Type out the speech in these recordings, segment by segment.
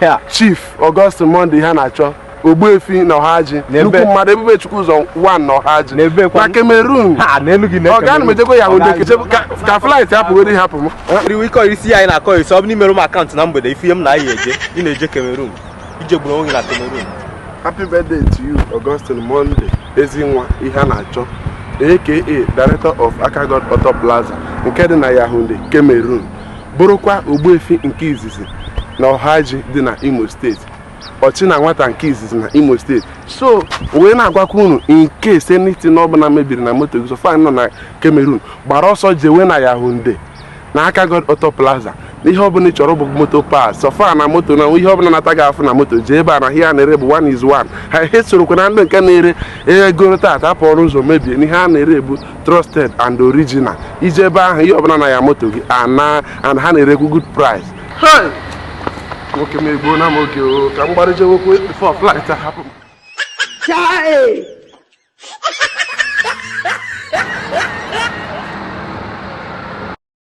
Ya, Chief Augustine Monday ihe a na-achọ Ogbuefi na Ọhaji N'ebe- nnukwu mmadụ ebube chukwu ụzọ 1 na Ọhaji N'ebe kwa- na Cameroon ha n'elu gị Ọga ana m ejekwa Yaounde keche ka- ka flight hapụgoro hapụ m riwe ịkọ isi a anyị na-akọ isi ọ bụ na i mere m account na mgbede ife ihe m na anyị eje ị na-eje Cameroon ị je gburu onwe gị na Cameroon happy birthday to you Augustine Monday ezi nwa ihe a na-achọ aka director of Akagod Auto Plaza nke dị na Yaounde Cameroon bụrụkwa Ogbuefi nke izizi na Ọhaji dị na Imo steeti Ọchịnanwata nke izizi na Imo steeti so wee na-agwakwa unu in case anything ọbụla mebiri na moto gị so far ị nọ na Cameroon gbara ọsọ jewe na Yaounde na Akagod Auto Plaza na ihe ọbụla ị chọrọ bụ motor parts so far na moto na ihe ọbụla na-ata gị afụ na moto jee ebe a na ihe a na-ere bụ one is one ha esorokwa na ndị nke na-ere egoro taata apụrụ ụzọ mebie na ihe a na-ere bụ trusted and original ị jee ebe ahụ ihe ọbụla na-aya moto gị ana and ha na-erekwu good price nwoke m egbuna m oge o ka m gbara jewekwa before flight ahapụ m Chai!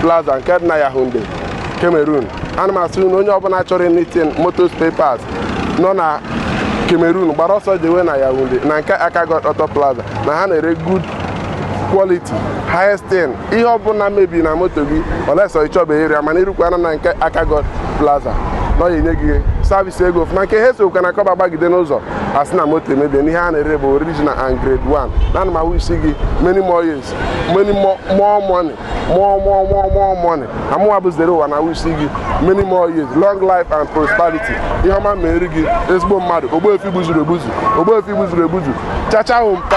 plaza nke dị na Yaounde Cameroon ana m asị unu onye ọbụla chọrọ anything motor spare parts nọ na Cameroon gbara ọsọ jewe na Yaounde na nke Akagod Auto Plaza na ha na-ere good quality highest thing ihe ọbụla mebiri na moto gị unless ị chọbeghị ịrịa mana irukwana na nke Akagod Plaza na ọ ga-enye gị service ego ọfụma nke ha esokwa na kọba gbagide n'ụzọ asị na moto emebie na ihe a na-ere bụ original and grade 1 na ana m awish gị many more years many more more money more more more more money amụwa bụ zere ụwa na-awish gị many more years long life and prosperity ihe ọma mere gị ezigbo mmadụ ogbuefi gbuzuru egbuzu ogbuefi gbuzuru egbuzu chacha hụ mpa